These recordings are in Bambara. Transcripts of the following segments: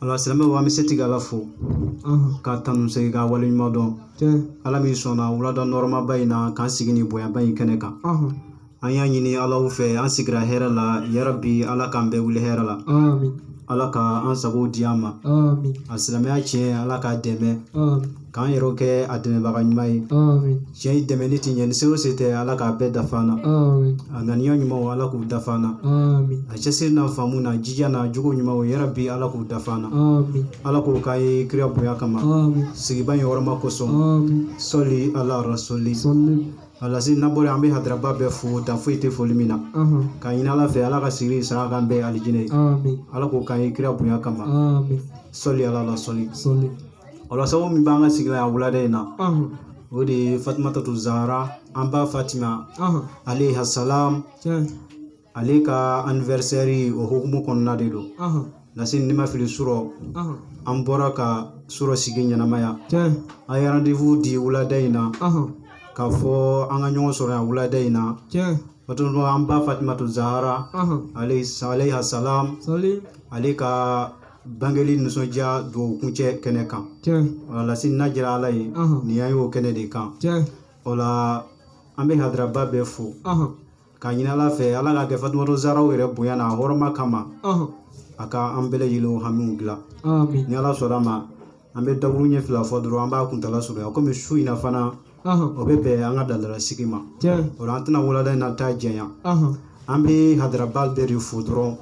alisilamɛw an bɛ setigi ala fo k'a tanu segin k'a wale ɲuman dɔn ala min sɔnna wulada nɔrɔmaba in na k'an sigi nin bonyaba in kɛnɛ kan an y'a ɲini alahu fɛ an sigira hɛrɛ la yarabi ala k'an bɛɛ wuli hɛrɛ la ala ka an sago di an ma a silamɛya tiɲɛ ala k'a dɛmɛ k'an yɛrɛw kɛ a dɛmɛbaga ɲuman ye cɛ i dɛmɛni tɛ ɲɛ ni se o se tɛ ala k'a bɛɛ dafa an na a ŋaniya ɲumanw ala k'u dafa an na a cɛsiri n'a faamu n'a jija n'a jogo ɲumanw yarabi ala k'u dafa an na ala k'o k'an ye kira bonya kama sigiba in hɔrɔma kosɔn sɔli ala rasuli alasi nabɔli an bɛ hadaraba bɛɛ fo dan foyi tɛ foli min na k'a ɲini ala fɛ ala ka sigili sara k'an bɛɛ alijinɛ ye ala k'o k'an ye kira bonya kama sɔli ala la sɔli o la sabu min b'an ka sigi la yan wulada in na o de ye fatimatu zahara an ba fatima alaiha salam ale ka anniversaire o hukumu kɔnɔna de don lase ni n ma fili surɔ an bɔra ka surɔ sigi ɲɛnamaya an ye rendez-vous di wulada in na k'a fɔ an ka ɲɔgɔn sɔrɔ yan wulada in na Fatumata an ba fatimatu zahara alaiha salam ale ka bangeli nisɔndiya dugawu kuncɛ kɛnɛ kan wala lasi n'a jira ala ye nin y'an y'o kɛnɛ de kan o la an bɛ hadaraba bɛɛ fo k'a ɲini ala fɛ ala ka kɛ fatumata zaraw yɛrɛ bonya n'a hɔrɔma kama a ka an bɛɛ lajɛlen hamiw dilan ni ala sɔnna a ma an bɛ dakuruɲɛ fila fɔ dɔrɔn an b'a kuntala surunya komi su in na fana o bɛ bɛn an ka dadala sigi ma o la an tɛna wulada in na ta janya an bɛ hadaraba bɛɛ de fo dɔrɔn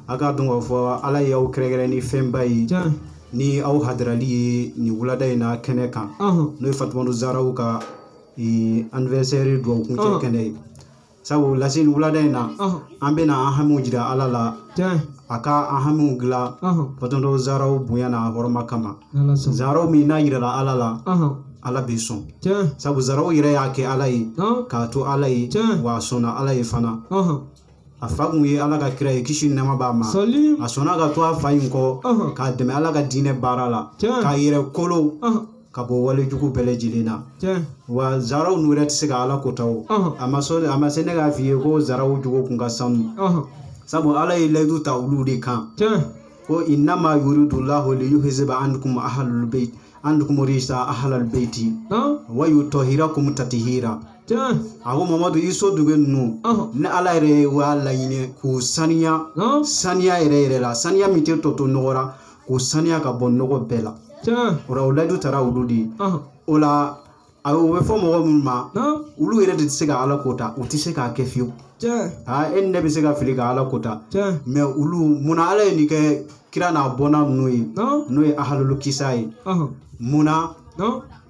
a k'a dɔn k'a fɔ ala ye aw kɛrɛnkɛrɛn ni fɛnba ye ni aw hadarali ye nin wulada in na kɛnɛ kan n'o ye fatumatu zaraw ka anniversaire dugawu kuncɛ kɛnɛ ye sabu laseli wulada in na an bɛna an hamiw jira ala la a ka an hamiw dilan fatumatu zaraw bonya n'a hɔrɔma kama zaraw min n'a yirala ala la ala bɛ sɔn sabu zaraw yɛrɛ y'a kɛ ala ye k'a to ala ye wa a sɔnna ala ye fana a fa kun ye ala ka kira ye kisi ni nɛɛma b'a ma a sɔnna ka to a fa in kɔ k'a dɛmɛ ala ka diinɛ baara la k'a yɛrɛ kolo ka bɔ wale jugu bɛɛ lajɛlen na wa zaraw n'u yɛrɛ tɛ se ka ala ko ta o a ma sɔn a ma se ne k'a f'i ye ko zaraw jogo kun ka sanu sabu ala ye layidu ta olu de kan ko innama yuridu llahu liyuzhiba ankum ahlul bait ankum rijsa ahlal baiti wa yutahhirakum tathira a ko mamadu i somɔgɔ ninnu ne ala yɛrɛ y'a laɲini k'u saniya saniya yɛrɛ yɛrɛ la saniya min tɛ tɔ to nɔgɔ ra k'u saniya ka bɔ nɔgɔ bɛɛ la o la o layidu tara olu de ye o la a bɛ o bɛ fɔ mɔgɔ minnu ma olu yɛrɛ de tɛ se ka ala ko ta u tɛ se k'a kɛ fiyewu aa e ni ne bɛ se ka fili ka ala ko ta mɛ olu munna ala ye nin kɛ kira n'a bɔnna ninnu ye n'o ye ahalulu kisa ye munna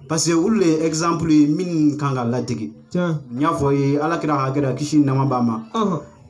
parce que olu de ye exemple ye min kan ka ladege i n'a fɔ ala kira ka kira kisi ni nɛɛma b'a ma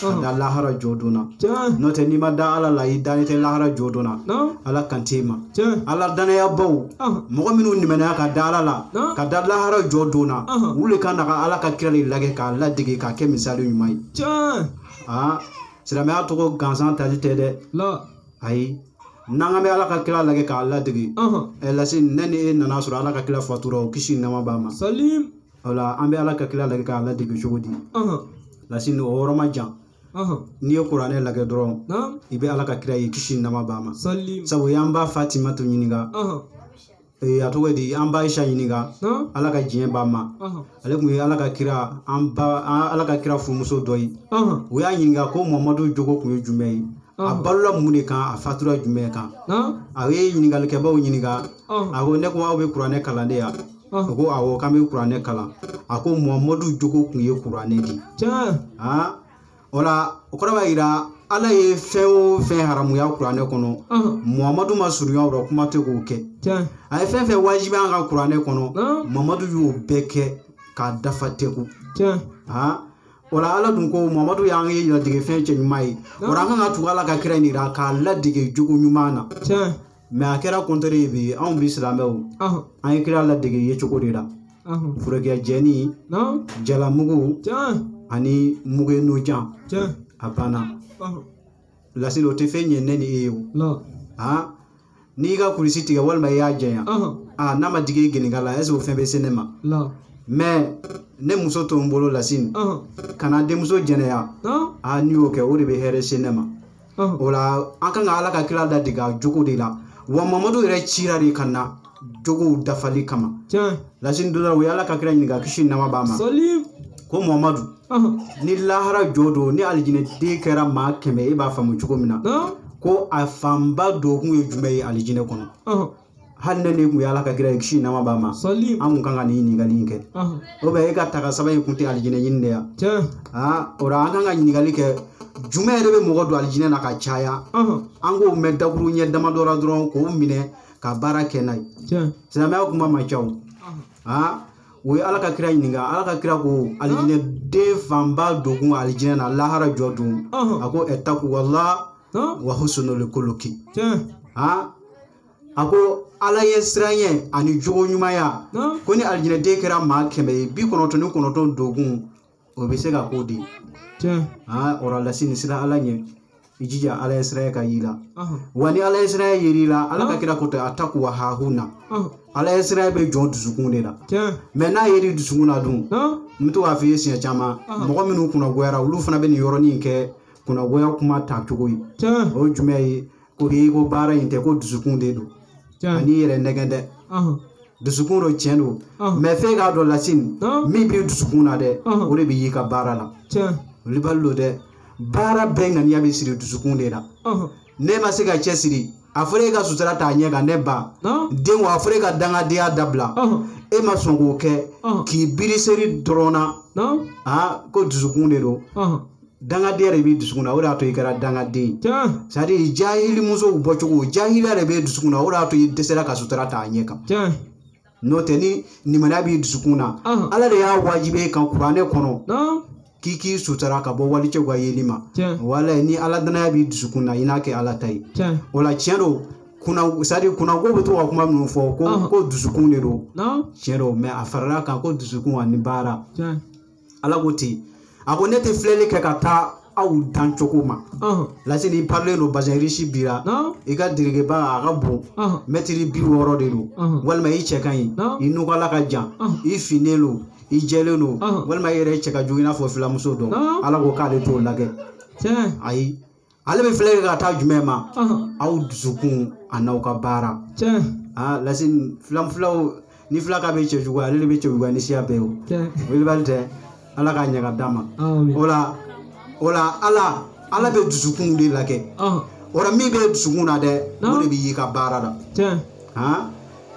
ka da lahara jɔ don na tiɲɛ n'o tɛ n'i ma da ala la i dalen tɛ lahara jɔ don na na ala kan t'i ma tiɲɛ ala dannayabaw ah mɔgɔ minnu limaniya ka da ala la Naamu. ka da lahara jɔ don na Ahan. olu le ka kan ka ala ka kira de lagɛ k'a ladege k'a kɛ misali ɲuman ye tiɲɛ aa silamɛya tɔgɔ gansan tali tɛ dɛ la ayi nka an bɛ ala ka kira lagɛ k'a ladege ah ɛ lasini ne ni e nana sɔrɔ ala ka kira fatura o kisi ni nɛɛma b'a ma salim o la an bɛ ala ka kira lajɛ k'a ladege cogo di lasini o yɔrɔ ma jan n'i ye kuranɛ lajɛ dɔrɔn i bɛ ala ka kira ye kisi ni nɛɛma b'a ma sabu u y'an ba fatimatu ɲininka Eh, a tɔgɔ di an ba ayisa ɲininka ala ka diɲɛ b'a ma ale tun ye ala ka kira an ba ala ka kira furumuso dɔ ye u y'a ɲininka ko mamadu jogo tun ye jumɛn ye a balola mun de kan a fatura jumɛn kan a ye ɲininkalikɛbaw ɲininka a ko ne ko aw bɛ kuranɛ kalan de yan a ko awɔ k'an bɛ kuranɛ kalan a ko muhamadu jogo tun ye kuranɛ de ye aa o la o kɔrɔ b'a yira ala ye fɛn o fɛn haramuya kuranɛ kɔnɔ muhamadu ma surunya o la kuma tɛ k'o kɛ a ye fɛn o fɛn wajibiya an kan kuranɛ kɔnɔ muhamadu y'o bɛɛ kɛ k'a dafa tɛku aa o la ala dun ko muhamadu y'an ye ladege fɛn cɛ ɲuman ye o la an kan ka tugu ala ka kira in de la k'a ladege jogo ɲuman na mɛ a kɛra kɔntɛri ye bi anw bi silamɛw ɔhɔn, an ye kira ladege yecogo de la ɔhɔn. forokiya jɛ ni Naam, jalamugu tiɲɛ, ani mugu n'o jan tiɲɛ, a banna ɔhɔn. lasini o tɛ fɛn ɲɛ ne ni e ye o La, han n'i ka kulusi tigɛ walima i y'a janya ɔhɔn, a n'a ma digi i gɛnɛnkala la ɛseke o fɛn bɛ se ne ma la, mɛ ne muso to n bolo lasini ɔhɔn. kana n denmuso jɛnɛya Naam, a n'i y'o kɛ o de bɛ hɛrɛ se ne ma o la an kan ka ala ka kira ladege a jogo de la wa mamadu yɛrɛ cira de ka na jogow dafali kama lasini dɔ la u ye ala ka kira ɲininka kisi ni nɛɛma b'a ma ko mamadu ni lahara jɔ don ni alijinɛ den kɛra maa kɛmɛ e b'a faamu cogo min na ko a fanba don kun ye jumɛn ye alijinɛ kɔnɔ hali n'e de kun ye ala ka kira ye kisi nɛɛma b'a ma an kun kan ka nin ɲininkali in kɛ o bɛ e ka taga saba in kun tɛ alijinɛ ɲini de ye aa o la an kan ka ɲininkali kɛ jumɛn yɛrɛ bɛ mɔgɔ don alijinɛ na ka caya an k'o mɛn dakuruɲɛ damadɔ la dɔrɔn k'o minɛ ka baara kɛ n'a ye silamɛya kuma ma ca o aa u ye ala ka kira ɲininka ala ka kira ko alijinɛden fanba donkun alijinɛ na lahara jɔ don a ko ɛ takuwala wa husnul kuluki aa a ko ala ɲɛ siranyɛ ani jogo ɲumanya ko ni alijinɛden kɛra maa kɛmɛ ye bi kɔnɔntɔn ni kɔnɔntɔn donkun o bɛ se ka k'o de ye aa o rɔ lasini siran ala ɲɛ i jija ala ɲɛ siranya ka y'i la wa ni ala ɲɛ siranya yer'i la ala ka kira ko ten atakuwa hahuna ala ɲɛ siranya bɛ jɔn dusukun de la mɛ n'a yer'i dusukun na dun n bɛ to k'a f'i ye siɲɛ caman mɔgɔ minnu kunnagoyara olu fana bɛ nin yɔrɔnin kɛ kunnagoya kuma ta cogo ye o ye jumɛn ye ko i ko baara in tɛ ko dusukun de don kan'i yɛrɛ nɛgɛn dɛ dusukun don tiɲɛ don mɛ f'e k'a dɔn lasini min bɛ dusukun na dɛ o de bɛ y'i ka baara la wulibali don dɛ baara bɛɛ ŋaniya bɛ siri dusukun de la n'e ma se ka cɛsiri a fɔra e ka sutura ta a ɲɛ kan ne ba den wa a fɔra e ka dangadenya dabila e ma sɔn k'o kɛ k'i biri seri dɔrɔn na ko dusukun de don dangadenya de b'i dusukun na o de y'a to i kɛra dangaden ye jahili musow bɔcogo jahiliya de b'e dusukun na o de y'a to i dɛsɛra ka sutura ta a ɲɛ kan n'o tɛ ni limaniya b'i dusukun na ala de y'a wajibi e kan kuranɛ kɔnɔ k'i k'i sutura ka bɔ walicɛw ka yeli ma wala ni ala danaya b'i dusukun na i n'a kɛ ala ta ye o la tiɲɛ don kuna sadi kuna k'u bɛ to ka kuma minnu fɔ ko ko dusukun de don tiɲɛ don mɛ a farala kan ko dusukun ani baara ala ko ten a ko ne tɛ filɛli kɛ ka taa aw dan cogo ma lasini i parelen don bazɛn risi b'i ra i ka dulokiba a ka bon mɛtiri bi wɔɔrɔ de don walima i cɛ ka ɲi i nunkala ka jan i finnen don i jɛlen don walima i yɛrɛ cɛ ka jugu i n'a fɔ filamuso dɔ ala ko k'ale t'o lajɛ ayi ale bɛ filɛ ka taa jumɛn ma aw dusukun an'aw ka baara aa lasi filan filaw ni fila ka bɛ cɛ jugu ale de bɛ cɛ jugu ni siya bɛɛ o wulibali tɛ ala k'a ɲaga d'a ma o la o la ala ala bɛ dusukun de lajɛ o la min bɛ dusukun na dɛ o de bɛ y'i ka baara la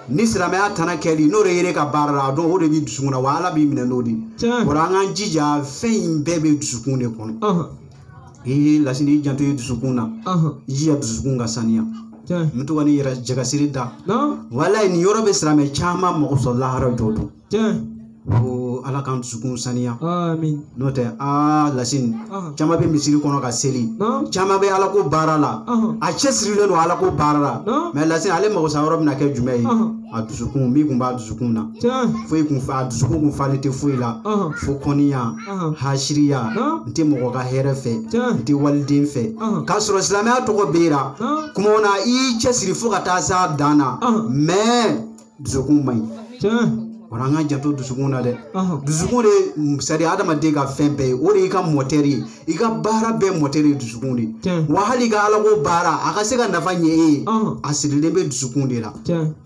ni silamɛya tana kɛli n'o de yer'i ka baara la a dɔn o de bɛ dusukun na wa ala b'i minɛ n'o de ye o la an k'an jija fɛn in bɛɛ bɛ dusukun de kɔnɔ i y'i lasini i janto i dusukun na Ahan. i jija dusukun ka saniya Tiɲɛ. n bɛ to ka nin yɛrɛ jagasere da Naa. walayi nin yɔrɔ bɛ silamɛ caman mago sa lahara jɔ don Tiɲɛ. ko ala k'an dusukun saniya Amin. n'o tɛ aa lasini Ahan. caman bɛ misiri kɔnɔ ka seli Naa. caman bɛ ala ko baara la Ahan. a cɛ sirilen don ala ko baara la Naa. mɛ lasini ale mago sa yɔrɔ bɛna kɛ jumɛn ye Ahan. a dusukun min kun b'a dusukun na Tiɲɛ. foyi kun fa a dusukun kun falen tɛ foyi la Ahan. fo kɔniya hasiriya n tɛ mɔgɔ ka hɛrɛ fɛ n tɛ waliden fɛ k'a sɔrɔ silamɛya tɔgɔ b'e ra kuma na i y'i cɛsiri fo ka taa s'a dan na mɛ dusukun man ɲi o la an ka janto dusukun na dɛ dusukun de c'est à dire adamaden ka fɛn bɛɛ ye o de y'i ka mɔtɛri ye i ka baara bɛɛ mɔtɛri ye dusukun de wa hali i ka alako baara a ka se ka nafa ɲɛ e ye a sirilen bɛ dusukun de la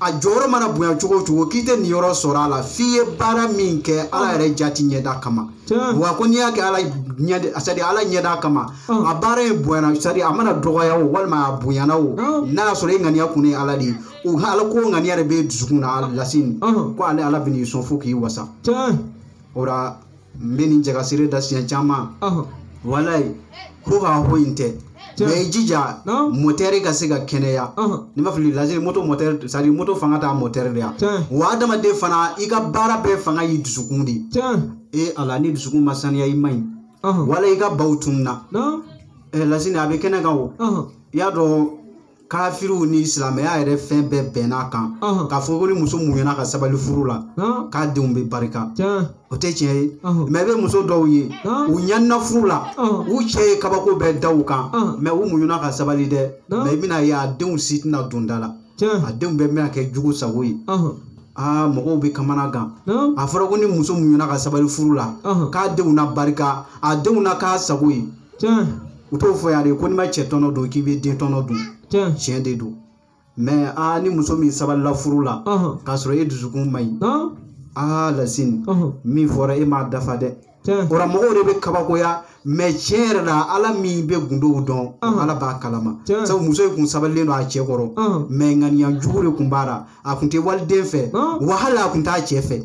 a jɔyɔrɔ mana bonya cogo o cogo k'i tɛ nin yɔrɔ sɔrɔ a la f'i ye baara min kɛ ala ah. yɛrɛ jati ɲɛda kama ah. wa ko n'i y'a kɛ ala ɲɛ c'est à dire ala ɲɛda kama ah. a baara in bonyana c'est à dire a mana dɔgɔya o walima a bonyana o n'a y'a sɔrɔ e ŋaniya kun ye ala de ye o ala ko ŋaniya de bɛ dusukun na aa lasini ko ale ala bɛn'i sɔn fo k'i wasa o la n bɛ nin jagasere da siɲɛ caman ɔhɔ walayi ko k'a ho in tɛ Tiɲɛ. mɛ i jija Non. motɛri ka se ka kɛnɛya ɔhɔ ne b'a f'i ye lasini moto motɛri c'est à dire moto fanga t'a motɛri de ya Tiɲɛ. wa adamaden fana i ka baara bɛɛ fanga y'i dusukun de ye. tiɲɛ e ala ni dusukun ma saniya i man ɲi ɔhɔ wala i ka baw tununna non ɛ lasini a bɛ kɛnɛ kan o ɔhɔ i y'a dɔn kafiriw ni silamɛya yɛrɛ fɛn bɛɛ bɛnn'a kan Ɔhɔn. k'a fɔ ko ni muso muɲuna ka sabali furu la Ɔn, k'a denw bɛ barika tiɲɛ. o tɛ tiɲɛ ye Ɔhɔn. mɛ i bɛ muso dɔw ye Ɔn. u ɲanina furu la Ɔhɔn. u cɛ ye kabako bɛɛ da u kan Ɔn. mɛ u muɲuna ka sabali dɛ Ɔn. mɛ i bɛn'a ye a denw si tɛna don da la a Tiɲɛ. denw bɛɛ bɛna kɛ jugu sago ye Ɔhɔn. aa mɔgɔw bɛ kamanagan Ɔn, a fɔra ko ni muso muɲuna ka sabali furu la Ɔhɔn. k'a denw na barika a denw na k'a sago ye tiɲɛ. u t'o fɔ yan de ko n'i ma cɛ tɔnɔ dun k'i bɛ den tɔnɔ dun tiɲɛ de don mɛ aa ni muso min sabalila furu la k'a sɔrɔ e dusukun man ɲi aa lasini min fɔra e m'a dafa dɛ o ra mɔgɔw de bɛ kabakoya mɛ tiɲɛ yɛrɛ la ala min bɛ gundow dɔn ala b'a kalama sabu muso in kun sabalilen don a cɛ kɔrɔ mɛ ŋaniya jugu de kun b'a la a kun tɛ waliden fɛ wa hali a kun t'a cɛ fɛ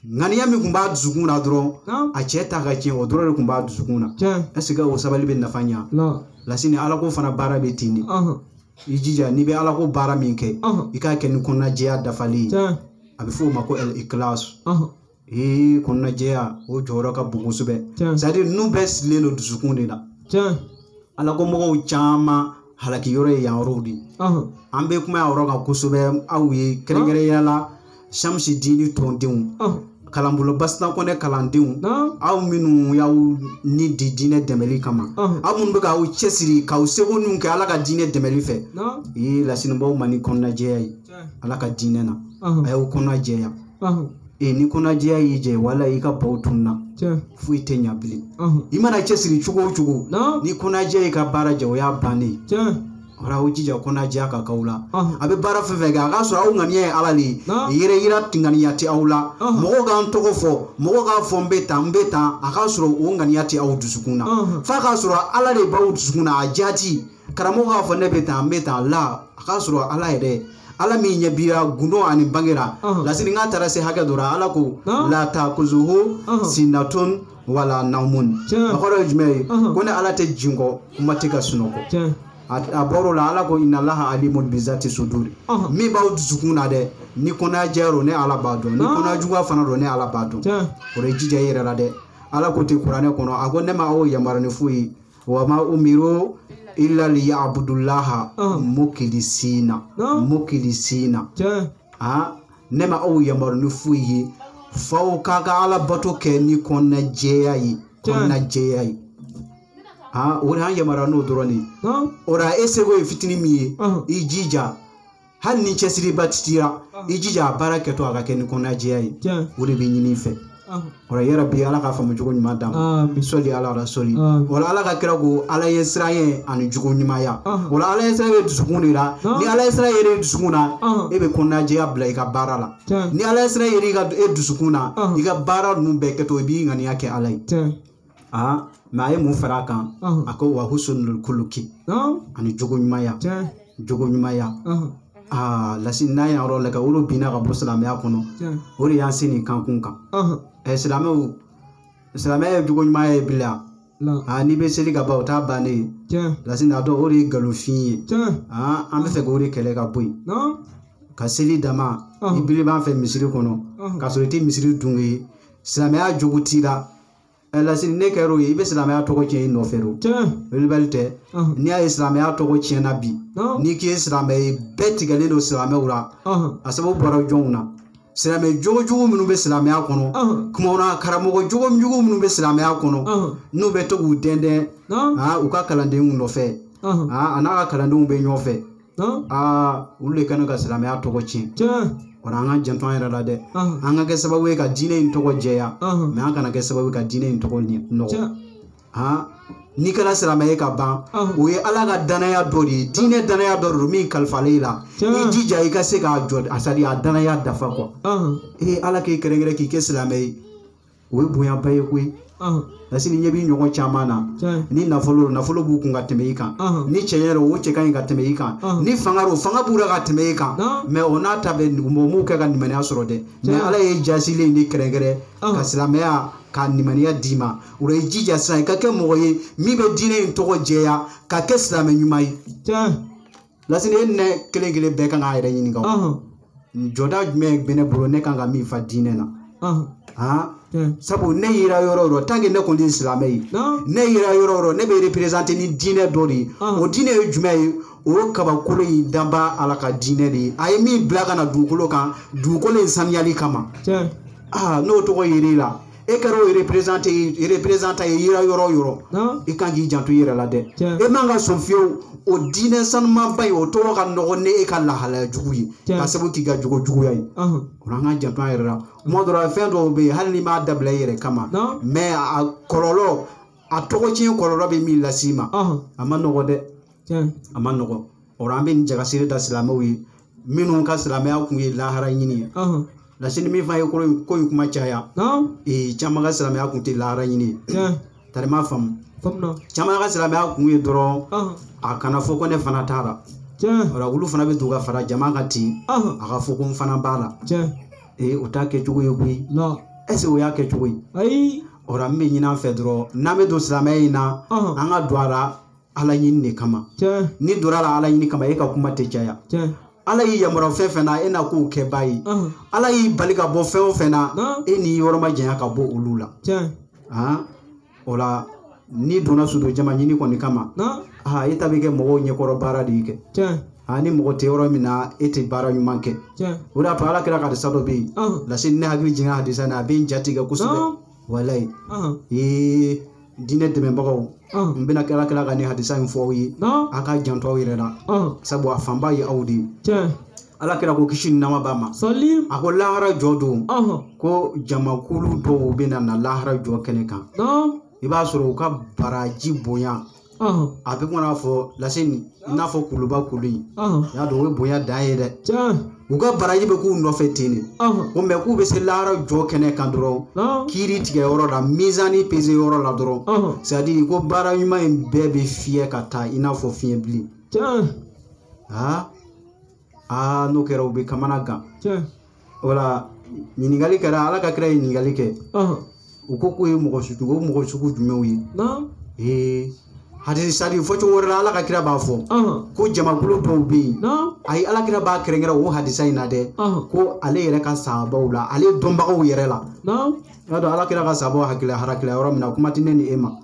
ŋaniya min kun b'a dusukun na dɔrɔn Naam. a cɛ ta ka tiɲɛ o dɔrɔn de kun b'a dusukun na Tiɲɛ. ɛseke o sabali bɛ nafa ɲa Naam. lasini alako fana baara bɛ ten de Ɔhɔn. i jija n'i bɛ alako baara min kɛ Ɔhɔn. i k'a kɛ ni kɔnɔnajɛya dafalen ye Tiɲɛ. a bɛ f'o ma ko ɛl ikilas Ɔhɔn. ee kɔnɔnajɛya o jɔyɔrɔ ka bon kosɛbɛ Tiɲɛ. c'est à dire ninnu bɛɛ sirilen don dusukun de la Tiɲɛ. alako mɔgɔw caman halaki yɔrɔ ye yan yɔrɔw de ye Ɔhɔn. an bɛ kuma yan yɔrɔ kan kosɛbɛ aw ye kɛrɛnkɛrɛnya la shamsi dini tɔndenw Ɔhɔn. kalanbolo basita kɔnɛ kalandenw Naam. aw minnu y'aw ni di diinɛ dɛmɛli kama Ɔhɔn. aw minnu bɛ k'aw cɛsiri k'aw seko ninnu kɛ ala ka diinɛ dɛmɛli fɛ Naam. i ye lasini b'aw ma ni kɔnɔnajɛya ye Tiɲɛ. ala ka diinɛ na Ɔhɔn. a y'aw kɔnɔnajɛya Ɔhɔn. ee ni kɔnɔjɛya y'i jɛ wala i ka baw tunna foyi tɛ ɲa bilen i mana cɛsiri cogo o cogo ni kɔnɔjɛya y'i ka baara jɛ o y'a bannen wala aw jija kɔnɔjɛya ka k'aw la a bɛ baara fɛn fɛn kɛ a k'a sɔrɔ aw ŋaniya ye ala de ye yɛrɛ yira ŋaniya tɛ aw la mɔgɔw k'an tɔgɔ fɔ mɔgɔw k'a fɔ n bɛ tan n bɛ tan a k'a sɔrɔ o ŋaniya tɛ aw dusukun na f'a k'a sɔrɔ ala de b'aw dusukun na a jaati karamɔgɔ k'a fɔ ne bɛ tan n bɛ tan la a k'a sɔrɔ ala yɛrɛ ala min ɲɛ b'i ra gundo ani bange ra lasini a taara se hakɛ dɔ ra ala ko la takuzuhu sinatun wala naumun a kɔrɔ ye jumɛn ye ko ne ala tɛ jinkɔ kuma tɛ ka sunɔgɔ a bɔr'o la ala ko inalaha alimun bizati suduri min b'aw dusukun na dɛ ni kɔnɔnajɛya don ne ala b'a dɔn ni kɔnɔnajuguya fana don ne ala b'a dɔn o la i jija i yɛrɛ la dɛ ala ko ten kuranɛ kɔnɔ a ko ne ma aw yamaruya ni foyi ye wa ma umiru illa liya'budullaha Ah. mukilisina Naam. mukilisina tiɲɛ ah ne ma aw yamaru ni foyi ye f'aw k'a ka ala bato kɛ ni kɔnɔna jɛya ye Tiɲɛ. kɔnɔna jɛya ye ah o de y'an yamaruya n'o dɔrɔn de ye naam o la e seko ye fitinin min ye Ɔhɔn. i jija hali ni cɛsiriba t'i ra i jija a baara kɛtɔ a ka kɛ ni kɔnɔnajɛya ye Tiɲɛ. o de bɛ ɲini i fɛ Ɔhɔn. o la yɛrɛ bi ala k'a faamu cogo ɲuman d'an ma Amin. sɔli ala la sɔli Amin. o la ala ka kira ko ala ɲɛsiranɲɛ ani jogo ɲumanya Ɔhɔn. o la ala ɲɛsiranɲɛ bɛ dusukun de la Ɔhɔn. ni ala ɲɛsiranɲɛ kɛr'e dusukun na Ɔhɔn. e bɛ kɔnɔnajɛya bila i ka baara la Tiɲɛ. ni ala ɲɛsiranɲɛ kɛr'e dusukun na Ɔhɔn. i ka baara ninnu bɛɛ kɛtɔ i b'i ŋaniya kɛ ala ye Tiɲɛ. aa mɛ a ye mun fara a kan Ɔhɔn. a ko wa husnul kuluki Ɔn. ani jogo ɲumanya Tiɲɛ. jogo ɲumanya Ɔhɔn. aa lasini n'an y'a yɔrɔ lajɛ o de binna ka bɔ silamɛya kɔnɔ Tiɲɛ. o de y'an se nin kankun kan Ɔhɔn. ɛ silamɛw silamɛya ye jogo ɲumanya ye bila La. aa n'i bɛ seli ka ban o t'a bannen ye Tiɲɛ. lasini a dɔn o de ye nkalonfin ye Tiɲɛ. aa an b'a fɛ k'o de kɛlɛ ka bɔ yen Ɔn. ka seli dama Ɔhɔn. i birilen b'an fɛ misiri kɔnɔ Ɔhɔn. k'a sɔrɔ i tɛ misiriden ye silamɛya jogo t'i la ɛ lasini n'e kɛra o ye i bɛ silamɛya tɔgɔ tiɲɛ i nɔfɛ o tiɲɛ welebali tɛ ɔhɔn, n'i y'a ye silamɛya tɔgɔ tiɲɛna bi ɔhɔn, n'i k'i ye silamɛ ye bɛɛ tigɛlen don silamɛw la ɔhɔn, a sababu bɔra jɔnw na silamɛ jogojugu minnu bɛ silamɛya kɔnɔ ɔhɔn, kumaw na karamɔgɔ jogojugu minnu bɛ silamɛya kɔnɔ ɔhɔn, n'u bɛ to k'u dɛndɛn ɔhɔn, aa, u ka kalandenw nɔfɛ ɔhɔn, aa, a n'a ka kalandenw bɛ ɲɔgɔn fɛ aa olu de kɛnɛ ka silamɛya tɔgɔ tiɲɛ o an ka janto an yɛrɛ la dɛ an ka kɛ sababu ye ka diinɛ in tɔgɔ jɛya mɛ an kana kɛ sababu ye ka diinɛ in tɔgɔ nɔgɔ n'i kɛra silamɛ ye ka ban o ye ala ka danaya dɔ de ye diinɛ danaya dɔ de don min kalifalen i la i jija i ka se k'a jɔ c'est-à-dire a danaya dafa quoi ee ala k'i kɛrɛnkɛrɛn k'i kɛ silamɛ ye o ye bonyaba ye koyi parce que n'i ɲɛ b'i ɲɔgɔn caman na ni nafolo nafolo b'u kun ka tɛmɛ i kan ni cɛɲɛ o cɛ ka ɲi ka tɛmɛ i kan ni fanga o fanga b'u la ka tɛmɛ i kan mɛ o n'a ta bɛɛ mɔgɔw kɛ ka nimaniya sɔrɔ dɛ mɛ ala y'e jasilen de kɛrɛnkɛrɛn ka silamɛya ka nimaniya d'i ma o i jija sisan i ka kɛ mɔgɔ ye min bɛ diinɛ in tɔgɔ jɛya ka kɛ silamɛ ɲuman ye lasini e ne kelen kelen bɛɛ kan k'a yɛrɛ ɲininka jɔda jumɛn bɛ ne bolo ne kan ka min fa diinɛ na sabu ne yera yɔrɔ o yɔrɔ tant que ne kɔni ye silamɛ ye ne yera yɔrɔ o yɔrɔ ne bɛ représenter ni diinɛ dɔ de ye o diinɛ ye jumɛn ye o ye kabakolo in danbaa ala ka diinɛ de ye a ye min bila ka na dugukolo kan dugukolo in saniyali kama aa n'o tɔgɔ yer'e la e kɛra o représentant ye e yera yɔrɔ o yɔrɔ Naam. i kan k'i janto i yɛrɛ la dɛ Tiɲɛ. e man ka sɔn fiyewu o diinɛ sanumanba in o tɔgɔ ka nɔgɔ ni e ka lahalaya jugu ye Tiɲɛ. k'a sabu k'i ka jogo juguya ye Ahan. o la an k'an janto an yɛrɛ la tuma dɔ la fɛn dɔw bɛ yen hali n'i m'a dabila i yɛrɛ kama Naam. mɛ a kɔlɔlɔ a tɔgɔ tiɲɛ kɔlɔlɔ bɛ min las'i ma Ahan. a man nɔgɔn dɛ Tiɲɛ. a man nɔgɔn o la an bɛ nin jagasiri da silamɛw ye minnu ka silamɛya kun ye lahara ɲini ye Ɔhɔn. lasini min fana ye ko in ko in kuma caya Naam. ee caman ka silamɛya kun tɛ lahara ɲini ye Tiɲɛ. tar'i m'a faamu Faamuya. caman ka silamɛya kun ye dɔrɔn Ɔhɔn. a kana fɔ ko ne fana t'a la Tiɲɛ. o la olu fana bɛ don ka fara jama kan ten Ɔhɔn. a ka fɔ ko n fana b'a la Tiɲɛ. ee o t'a kɛcogo ye koyi Naam. est-ce o y'a kɛcogo ye Ayi. o la n b'a ɲin'an fɛ dɔrɔn n'an bɛ don silamɛya in na Ɔhɔn. an ka don a la ala ɲini de kama n'i donn'a la ala ɲini kama e ka kuma tɛ caya ala y'i yamaruya fɛn fɛn na e na k'o kɛbaa ye ala y'i bali ka bɔ fɛn o fɛn na e n'i yɔrɔ majanya ka bɔ olu la o la n'i donna surtout jama ɲini kɔni kama aa e ta bɛ kɛ mɔgɔw ɲɛkɔrɔ baara de ye kɛ aa ni mɔgɔ tɛ yɔrɔ min na e tɛ baara ɲuman kɛ o de y'a to ala kira ka hadisa dɔ bɛ yen lasini n hakili jigin hadisa in na a bɛ n jatigɛ kosɛbɛ walayi Ɔn, ee diinɛ dɛmɛbagaw ɔn, n bɛna ala kira ka nin hadisa in fɔ aw ye ɔn, a k'a janto aw yɛrɛ la ɔn. sabu a fanba ye aw de ye Tiɲɛ. ala kira ko kisi ni nɛɛma b'a ma Sɔli. a ko lahara jɔ don Ɔn, ko jamakulu dɔw bɛna na lahara jɔ kɛnɛ kan ɔn, i b'a sɔrɔ u ka baraji bonya a bɛ kɔnɔ fɔ lase nin i n'a fɔ kuluba kulu in i y'a dɔn o ye bonya dan ye dɛ u ka baraji bɛ k'u nɔfɛ ten de komi k'u bɛ se lahara jɔ kɛnɛ kan dɔrɔn kiiri tigɛ yɔrɔ la mizani peze yɔrɔ la dɔrɔn c'est-à-dire ko baara ɲuman in bɛɛ bɛ fiyɛ ka taa i n'a fɔ fiɲɛ bilen aa aa n'o kɛra u bɛ kamana gan wala ɲininkali kɛra ala ka kira ye ɲininkali kɛ u ko k'o ye mɔgɔ sugu o mɔgɔ sugu jumɛnw ye ee hadisi sadi fɔcogo wɛrɛ la ala ka kira b'a fɔ ko jamakulu dɔw bɛ yen ayi ala kira b'a kɛrɛnkɛrɛn o hadisa in na dɛ ko ale yɛrɛ ka sahabaw la ale dɔnbagaw yɛrɛ la i b'a dɔn ala kira ka sahabaw hakili halakila yɔrɔ min na kuma tɛ ne ni e ma